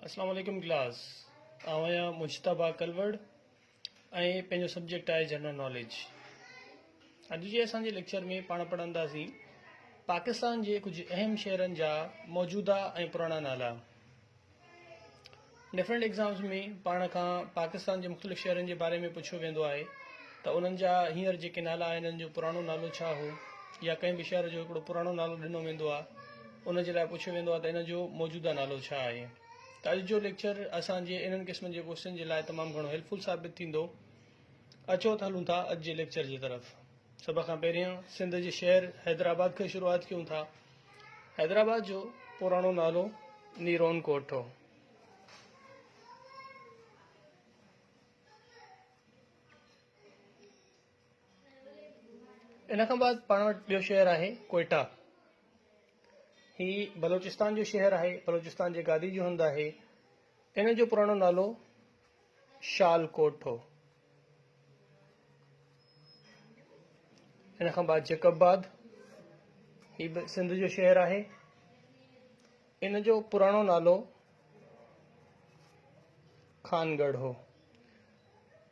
اسلام عليڪم ڪلاس آئون آهيان مجتبا ڪلوڙ ۽ پنهنجو سبجيڪٽ آهي جنرل ناليج اڄ جي اسان جي ليڪچر ۾ پاڻ پڙهنداسين پاڪستان جي ڪجهه اهم شهرن جا موجوده ۽ پراڻا نالا ڊفرنٹ ایگزامس ۾ پاڻ کان پاڪستان جي مختلف شهرن جي باري ۾ پڇيو ويندو آهي ته انهن جا هينئر جيڪي نالا آهن انهن جو پراڻو نالو ڇا هو يا ڪنهن به شهر جو هڪڙو پراڻو نالو ڏنو ويندو آهي ان جي لاء پڇيو ويندو آهي ته ان جو موجوده نالو ڇا آهي؟ ته اڄ جو ليڪچر اسان جي انهن قسمن جي ڪوشچن جي لاء تمام گهڻو هيلپ فل ثابت ٿيندو. اچو ته هلون ٿا اڄ جي ليڪچر جي طرف. سڀ کان پهريان سنڌ جي شهر حيدرآباد کان شروعات ڪيون ٿا. حيدرآباد جو پراڻو نالو نيرون ڪوٽ هو. ان کان بعد پاڻ وٽ ٻيو شهر آهي ڪوئيٽا هي بلوچستان جو شهر آهي بلوچستان جي گادي جو هنڌ آهي ان جو پراڻو نالو شال ڪوٽ هو ان کان بعد جيڪب آباد هي به سنڌ جو شهر آهي ان جو پراڻو نالو خانگڙھ هو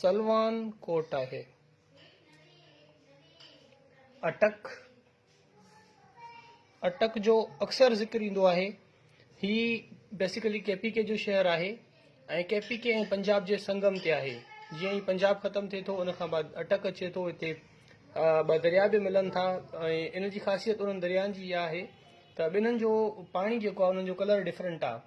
سلوان ڪوٽ آهي. اٽڪ، اٽڪ جو اڪثر ذڪر ايندو آهي. هي بيسيڪلي ڪي پي ڪي جو شهر آهي ۽ ڪي پي ڪي ۽ پنجاب جي سنگم تي آهي. جيئن ئي پنجاب ختم ٿئي ٿو ان کان بعد اٽڪ اچي ٿو. هتي ٻه درياء به ملن ٿا ۽ ان جي خاصيت انهن دريائن جي اها آهي ته ٻنهن جو پاڻي جيڪو آهي انهن جو ڪلر ڊفرنٽ آهي.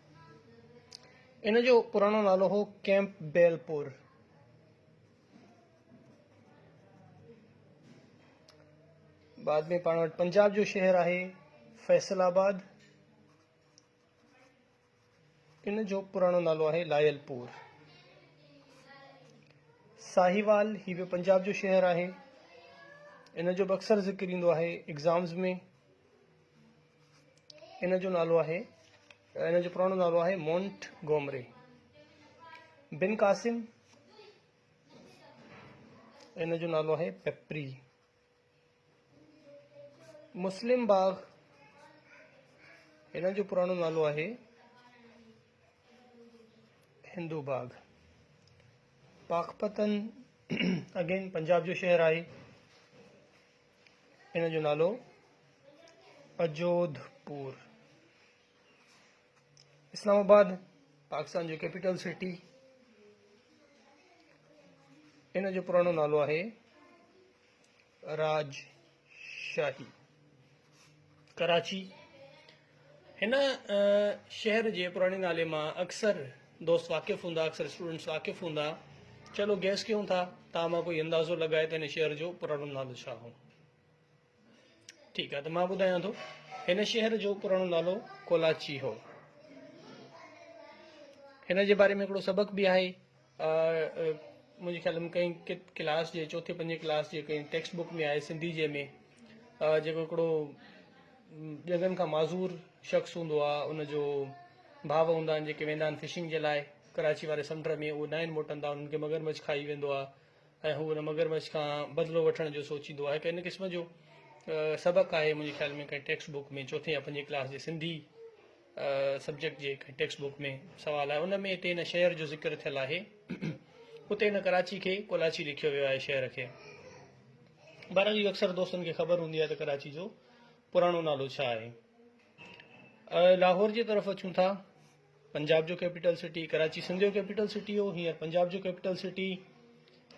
ان جو پراڻو نالو هو ڪيمپ بيل پور. بعد ۾ پاڻ وٽ پنجاب جو شهر آهي فيصل آباد ان جو پراڻو نالو آهي لائل پور ساهيوال هي به پنجاب جو شهر آهي ان جو به اڪثر ذڪر ايندو آهي ايگزامز ۾ ان جو نالو آهي ان جو پراڻو نالو آهي مونٽ گومري بن قاسم ان جو نالو آهي پپري مسلم باغ ان جو پراڻو نالو آهي هندو باغ پاڪپتن اگين پنجاب جو شهر آهي ان جو نالو اجوڌ پور اسلام آباد پاڪستان جو ڪيپيٽل سٽي ان جو پراڻو نالو آهي راج شاهي ڪراچي هن شهر جي پراڻي نالي مان اڪثر دوست واقف هوندا اڪثر اسٽوڊنٽس واقف هوندا چلو گيس ڪيون ٿا تان مان ڪوئي اندازو لڳائي ته هن شهر جو پراڻو نالو ڇا هو ٺيڪ آهي ته مان ٻڌايان ٿو هن شهر جو پراڻو نالو ڪولاچي هو هن جي باري ۾ هڪڙو سبق به آهي منهنجي خيال ۾ ڪئين ڪلاس جي چوٿين پنجين ڪلاس جي ڪئين ٽيڪسٽ بڪ ۾ آهي سنڌي جي ۾ جيڪو هڪڙو ڄنگهن کان معذور شخص هوندو آهي ان جو ڀاء هوندا آهن جيڪي ويندا آهن فشنگ جي لاء ڪراچي واري سمنڊ ۾ اهو ناهن موٽندا انهن کي مگرمچ کائي ويندو آهي ۽ هو ان مگرمچ کان بدلو وٺڻ جو سوچيندو آهي ڪئين قسم جو سبق آهي منهنجي خيال ۾ ڪئين ٽيڪسٽ بڪ ۾ چوٿين يا پنجين ڪلاس جي سنڌي سبجيڪٽ جي هڪ ٽيڪسٽ بوڪ ۾ سوال آهي ان ۾ هتي هن شهر جو ذڪر ٿيل آهي اتي هن ڪراچي کي ڪولاچي لکيو ويو آهي شهر کي بهرحال اهو اڪثر دوستن کي خبر هوندي آهي ته ڪراچي جو پراڻو نالو ڇا آهي لاهور جي طرف اچون ٿا پنجاب جو ڪيپيٽل سٽي ڪراچي سنڌ جو ڪيپيٽل سٽي هو هينئر پنجاب جو ڪيپيٽل سٽي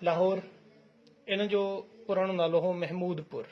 لاهور ان جو پراڻو نالو هو محمود پور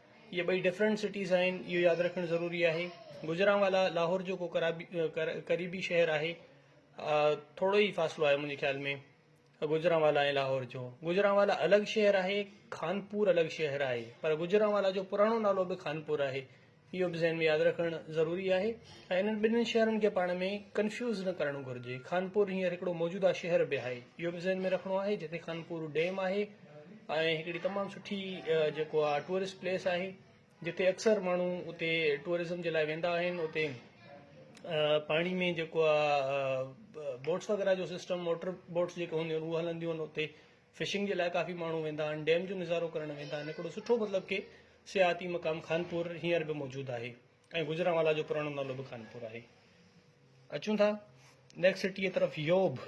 اهي ٻئي ڊفرنٽ سٽيز آهن اهو ياد رکڻ ضروري آهي گجرانوالا لاهور جو ڪو قريبي شهر آهي ٿورو ئي فاصلو آهي منهنجي خيال ۾ گجرانوالا ۽ لاهور جو گجرانوالا الڳ شهر آهي خانپور الڳ شهر آهي پر گجرانوالا جو پراڻو نالو به خانپور آهي اهو به ذهن ۾ ياد رکڻ ضروري آهي ۽ انهن ٻنهي شهرن کي پاڻ ۾ ڪنفيوز نه ڪرڻ گهرجي خانپور هينئر هڪڙو موجوده شهر به آهي اهو به ذهن ۾ رکڻو آهي جتي خانپور ڊيم آهي ۽ هڪڙي تمام سٺي جيڪو آ ٽوئرسٽ پليس آهي جتي اڪثر ماڻهو اتي ٽوئرزم جي لاء ويندا آهن اتي پاڻي ۾ جيڪو آ بوٽس وغيره جو سسٽم موٽر بوٽس جيڪو هونديون آهن اهو هلنديون آهن اتي فشنگ جي لاء ڪافي ماڻهو ويندا آهن ڊيم جو نظارو ڪرڻ ويندا آهن هڪڙو سٺو مطلب ڪي سياحتي مقام خانپور هينئر به موجود آهي ۽ گجرانوالا جو پراڻو نالو به خانپور آهي اچون ٿا نيڪسٽ سٽيء طرف يوڀ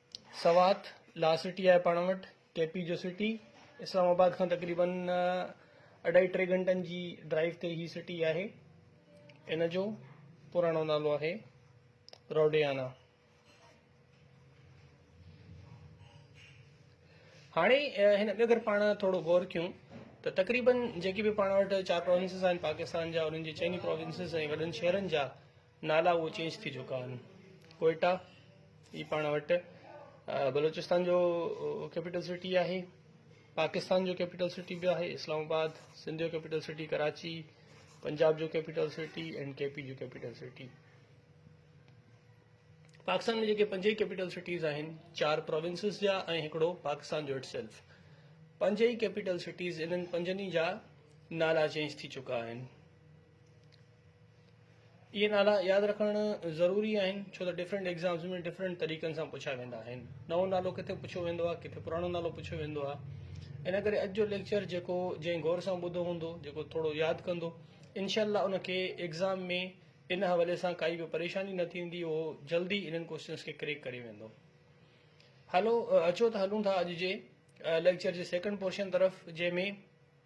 سوات، لا سٽي آهي پاڻ وٽ، ڪي پي جو سٽي، اسلام آباد کان تقريبن اڍائي ٽي گهنٽن جي ڊرائيو تي هي سٽي آهي. ان جو پراڻو نالو آهي روڊيانا. هاڻي هن تي اگر پاڻ ٿورو غور ڪيون ته تقريبن جيڪي به پاڻ وٽ چار پروونسز آهن پاڪستان جا انهن جي چئني پروونسز ۽ وڏن شهرن جا نالا اهو چينج ٿي چڪا آهن ڪوئيٽا هي پاڻ وٽ بلوچستان جو ڪيپيٽل سٽي آهي پاڪستان جو ڪيپيٽل سٽي به آهي اسلام آباد سنڌ جو ڪيپيٽل سٽي ڪراچي پنجاب جو capital city and K P جو ڪيپيٽل سٽي پاڪستان ۾ جيڪي پنج ئي ڪيپيٽل سٽيز آهن چار پروونسز جا ۽ هڪڙو پاڪستان جو اٽ سيلف پنج ئي ڪيپيٽل سٽيز انهن پنجن ئي جا نالا چينج ٿي چڪا آهن اهي نالا ياد رکڻ ضروري آهن ڇو ته ڊفرنٽ ايگزامز ۾ ڊفرنٽ طريقن سان پڇيا ويندا آهن نئون نالو ڪٿي پڇيو ويندو آهي ڪٿي پراڻو نالو پڇيو ويندو آهي ان ڪري اڄ جو ليڪچر جيڪو جنهن غور سان ٻڌو هوندو جيڪو ٿورو ياد ڪندو انشاء الله ان کي ايگزام ۾ ان حوالي سان ڪائي به پريشاني نه ٿيندي اهو جلدي انهن ڪوشچنس کي ڪريڪ ڪري ويندو هلو اچو ته هلون ٿا اڄ جي ليڪچر جي سيڪنڊ پورشن طرف جنهن ۾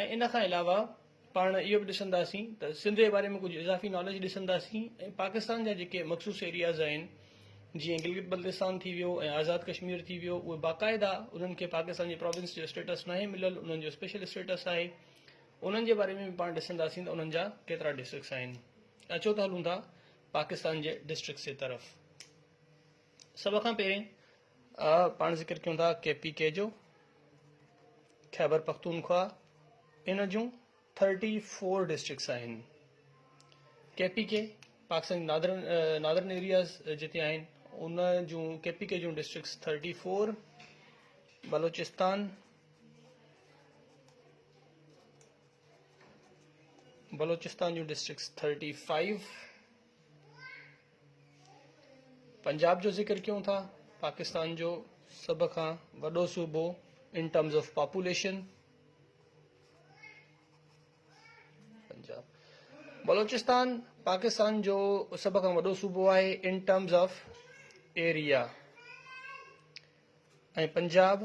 ۽ ان کان علاوه پاڻ اهو به ڏسنداسين ته سنڌ جي باري ۾ ڪجهه اضافي ناليج ڏسنداسين ۽ پاڪستان جا جيڪي مخصوص ايرياز آهن جيئن گلگت بلتستان ٿي ويو ۽ آزاد ڪشمير ٿي ويو اهي باقاعده انهن کي پاڪستان جي پراونس جو اسٽيٽس ناهي مليل انهن جو اسپيشل اسٽيٽس آهي انهن جي باري ۾ به پاڻ ڏسنداسين ته انهن جا ڪيترا ڊسٽرڪس آهن اچو ته هلون ٿا پاڪستان جي ڊسٽرڪس جي طرف سڀ کان پهرين آء پاڻ ذڪر ڪيون ٿا ڪي پي ڪي جو خيبر پختونخواهه ان جون ٿرٽي فور ڊسٽرڪس آهن K P K Pakistan northern northern areas جتي آهن ان جون ڪي پي ڪي جون districts thirty four Balochistan Balochistan جون ڊسٽرڪس ٿرٽي فائيو پنجاب جو ذڪر ڪيون ٿا پاڪستان جو سڀ کان وڏو صوبو in terms of population Punjab Balochistan Pakistan جو سڀ کان وڏو صوبو آهي in terms of area ۽ Punjab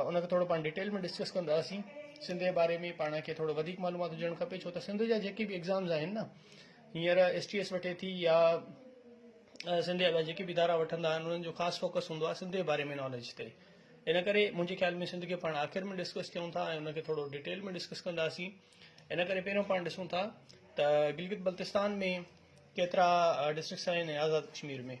ان کي ٿورو پاڻ ڊيٽيل ۾ ڊسڪس ڪنداسين سنڌ جي باري ۾ پاڻ کي ٿورو وڌيڪ معلومات هجڻ کپي ڇو ته سنڌ جا جيڪي به ايگزامز آهن نه هينئر ايس ٽي ايس وٺي ٿي يا سنڌ جا جيڪي به ادارا وٺندا آهن انهن جو خاص فوڪس هوندو آهي سنڌ جي باري ۾ ناليج تي ان ڪري منهنجي خيال ۾ سنڌ کي پاڻ آخر ۾ ڊسڪس ڪيون ٿا ۽ ان کي ٿورو ڊيٽيل ۾ ڊسڪس ڪنداسين ان ڪري پهريون پاڻ ڏسون ٿا ته گلگت بلتستان ۾ ڪيترا ڊسٽرڪس آهن آزاد ڪشمير ۾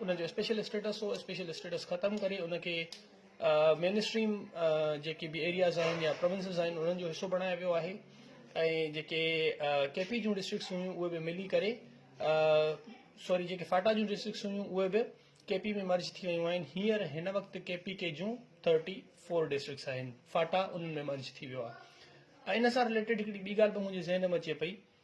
ان جو اسپيشل اسٽيٽس هو اسپيشل اسٽيٽس ختم ڪري ان کي مين اسٽريم جيڪي به ايرياز آهن يا پروونسز آهن انهن جو حصو بڻايو ويو آهي ۽ جيڪي ڪي پي جون ڊسٽرڪس هيون اهي به ملي ڪري سوري جيڪي فاٽا جون ڊسٽرڪس هيون اهي به ڪي پي ۾ مرج ٿي ويون آهن هيئر هن وقت ڪي پي ڪي جون ٿرٽي فور ڊسٽرڪس آهن فاٽا انهن ۾ مرج ٿي ويو آهي ان سان رليٽيڊ هڪڙي ٻي ڳالهه به منهنجي ذهن ۾ اچي پئي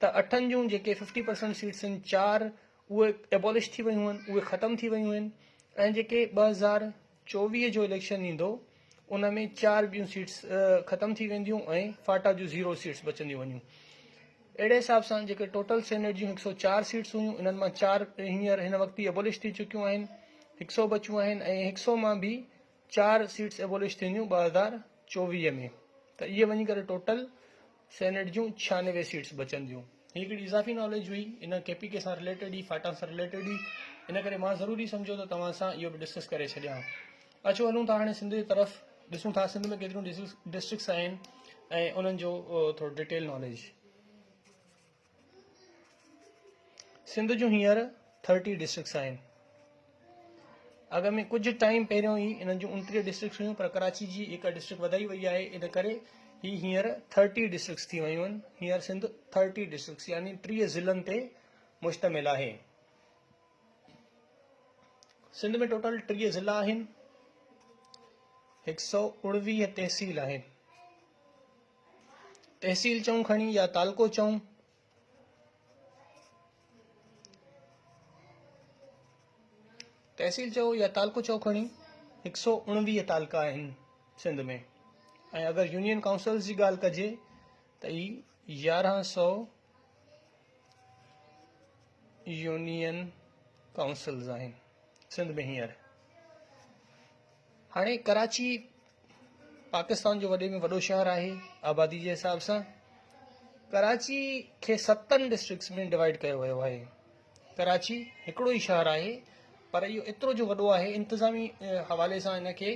ته اٺن جون جيڪي ففٽي پرسنٽ سيٽس آهن چار اهي ايبولش ٿي ويون آهن اهي ختم ٿي ويون آهن ۽ جيڪي ٻه هزار چوويهه جو اليڪشن ايندو ان ۾ چار ٻيون سيٽس ختم ٿي وينديون ۽ فاٽا جون زيرو سيٽس بچنديون وڃون اهڙي حساب سان جيڪي ٽوٽل سينيٽ جون هڪ سو چار سيٽس هيون انهن مان چار هينئر هن وقت ئي ايبولش ٿي چڪيون آهن هڪ سو بچيون آهن ۽ هڪ سو مان به چار سيٽس ايبولش ٿينديون ٻه هزار چوويهه ۾ ته اهي وڃي ڪري ٽوٽل سينيٽ جون ڇيانوي سيٽس بچنديون. هي هڪڙي اضافي ناليج هئي، ان ڪي پي ڪي سان رليٽيڊ هئي، فاٽا سان رليٽيڊ هئي، ان ڪري مان ضروري سمجهيو ته توهان سان اهو به ڊسڪس ڪري ڇڏيان. اچو هلون ٿا هاڻي سنڌ جي طرف، ڏسون ٿا سنڌ ۾ ڪيتريون ڊسٽرڪس آهن ۽ انهن جو ٿورو ڊيٽيل ناليج. سنڌ جون هينئر ٿرٽي ڊسٽرڪس آهن اڳ ۾ ڪجهه ٽائيم پهريون ئي انهن جون انٽيهه ڊسٽرڪس هيون پر ڪراچي جي هڪ ڊسٽرڪٽ وڌائي وئي آهي ان ڪري هي هينئر ٿرٽي ڊسٽرڪس ٿي ويون آهن هينئر سنڌ ٿرٽي ڊسٽرڪس يعني ٽيهه ضلعن تي مشتمل آهي سنڌ ۾ ٽوٽل ٽيهه ضلع آهن هڪ سؤ اڻويهه تحصيل آهن تحصيل چئون کڻي يا تعلقو چئون. تحصيل چئو يا تعلقو چئو کڻي هڪ سؤ اڻويهه تعلقا آهن سنڌ ۾ ۽ اگر يونين ڪائونسلز جي ڳالهه ڪجي ته اي يارهن سؤ يونين ڪائونسلز آهن سنڌ ۾ هينئر هاڻي ڪراچي پاڪستان جو وڏي ۾ وڏو شهر آهي آبادي جي حساب سان ڪراچي کي ستن ڊسٽرڪس ۾ ڊوائڊ ڪيو ويو آهي ڪراچي هڪڙو ئي شهر آهي پر اهو ايترو جو وڏو آهي انتظامي حوالي سان هن کي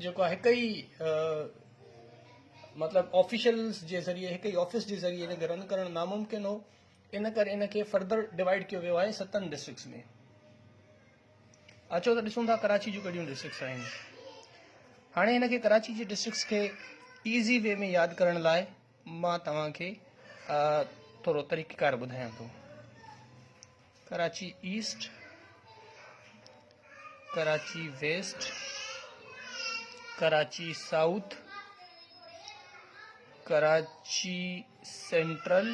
جيڪو آهي هڪ ئي مطلب آفيشلس جي ذريعي هڪ ئي آفيس جي ذريعي هن کي رن ڪرڻ ناممڪن هو ان ڪري ان کي فردر ڊوائڊ ڪيو ويو آهي ستن ڊسٽرڪس ۾ اچو ته ڏسون ٿا ڪراچي جون ڪهڙيون ڊسٽرڪس آهن هاڻي هن کي ڪراچي جي ڊسٽرڪس کي ايزي وي ۾ ياد ڪرڻ لاء مان توهان کي ٿورو طريقيڪار ٻڌايان ٿو Karachi East Karachi West Karachi south Karachi central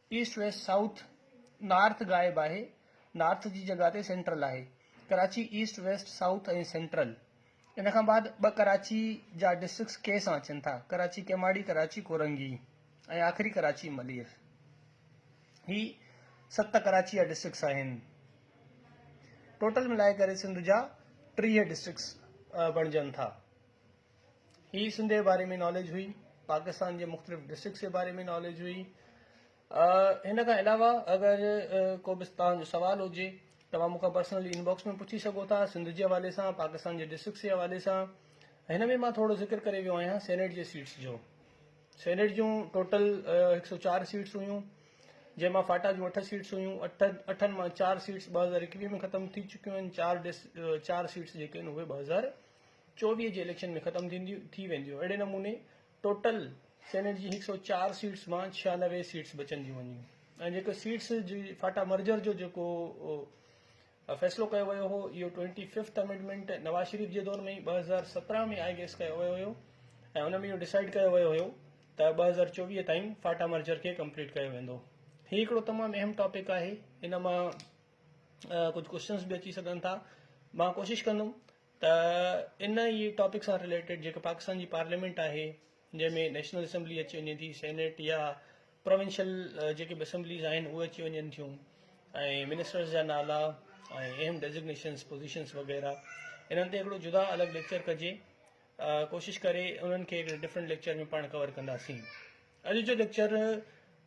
east west south north غائب آهي نارٿ جي جڳهه تي سينٽرل آهي Karachi east west south ۽ central ان کان بعد ٻه ڪراچي جا ڊسٽرڪس ڪي سان اچن ٿا ڪراچي ڪيماڙي ڪراچي ڪورنگي ۽ آخري ڪراچي ملير هي ست ڪراچي جا ڊسٽرڪس آهن ٽوٽل ملائي ڪري سنڌ جا ٽيهه ڊسٽرڪس بڻجن ٿا هي سنڌ جي باري ۾ ناليج هئي پاڪستان جي مختلف ڊسٽرڪس جي باري ۾ ناليج هئي هن کان علاوه اگر ڪو به تان جو سوال هجي توهان مون کان پرسنلي انباڪس ۾ پڇي سگهو ٿا سنڌ جي حوالي سان پاڪستان جي ڊسٽرڪس جي حوالي سان هن ۾ مان ٿورو ذڪر ڪري ويو آهيان سينيٽ جي سيٽس جو سينيٽ جون ٽوٽل هڪ سو چار سيٽس هيون جنهن مان فاٽا جون اٺ سيٽس هيون اٺ اٺن مان چار سيٽس ٻه هزار اڪويهه ۾ ختم ٿي چڪيون آهن چار ڊس چار سيٽس جيڪي آهن اهي ٻه هزار چوڏهينء جي اليڪشن ۾ ختم ٿي وينديون اهڙي نموني ٽوٽل سينيٽ جي هڪ سؤ چار سيٽس مان ڇيانوي سيٽس بچنديون وڃيون ۽ جيڪو سيٽس جي فاٽا مرجر جو جيڪو فيصلو ڪيو ويو هو اهو twenty fifth amendment Nawaz Sharif جي دور ۾ ئي ٻه هزار سترهن ۾ آئي گيس ڪيو ويو هيو ۽ ان ۾ اهو ڊسائيڊ ڪيو ويو هيو ته ٻه هزار چوويهه تائين فاٽا مرجر کي ڪمپليٽ ڪيو ويندو هي هڪڙو تمام اهم ٽاپڪ آهي ان مان ڪجهه ڪوشچنس به اچي سگهن ٿا مان ڪوشش ڪندم ته ان ئي ٽاپڪ سان رليٽيڊ جيڪا پاڪستان جي پارليامينٽ آهي جنهن ۾ نيشنل اسيمبلي اچي وڃي ٿي سينيٽ يا پروونشل جيڪي به اسيمبليز آهن اهي اچي وڃن ٿيون ۽ منسٽرز جا نالا ۽ اهم ڊيزگنيشنس پوزيشنس وغيره انهن تي هڪڙو جدا الڳ ليڪچر ڪجي ڪوشش ڪري انهن کي هڪڙي ڊفرنٽ ليڪچر ۾ پاڻ ڪور ڪنداسين اڄ جو ليڪچر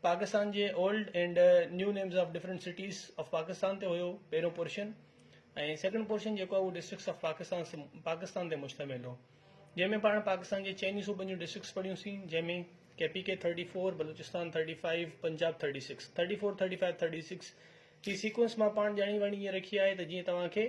پاڪستان جي old and new names of different cities of Pakistan تي هيو پهريون پورشن ۽ سيڪنڊ پورشن جيڪو هو ڊسٽرڪس آف پاڪستان پاڪستان تي مشتمل هو جنهن ۾ پاڻ پاڪستان جي چئني صوبن جون ڊسٽرڪس پڙهيون سين جنهن ۾ K P K thirty four Balochistan thirty five Punjab thirty six thirty four thirty five thirty six جي سيڪوئنس مان پاڻ ڄاڻي واڻي ائين رکي آهي ته جيئن توهان کي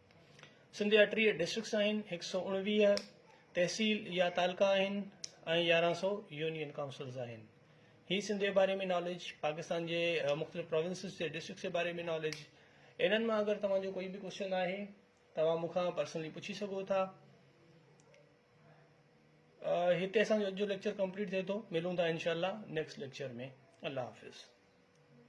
سنڌ جا ٽيهه ڊسٽرڪٽس آهن، هڪ سؤ اڻويهه تحصيل يا تعلقا آهن ۽ يارهن سؤ يونين ڪائونسلز آهن. هي سنڌ جي باري ۾ ناليج، پاڪستان جي مختلف پراونسز جي ڊسٽرڪٽس جي باري ۾ ناليج، انهن مان اگر توهان جو ڪوئي به ڪوشچن آهي توهان مون کان پرسنلي پڇي سگهو ٿا. هتي اسان جو اڄ جو ليڪچر ڪمپليٽ ٿئي ٿو، ملون ٿا انشاء الله نيڪسٽ ليڪچر ۾ الله حافظ.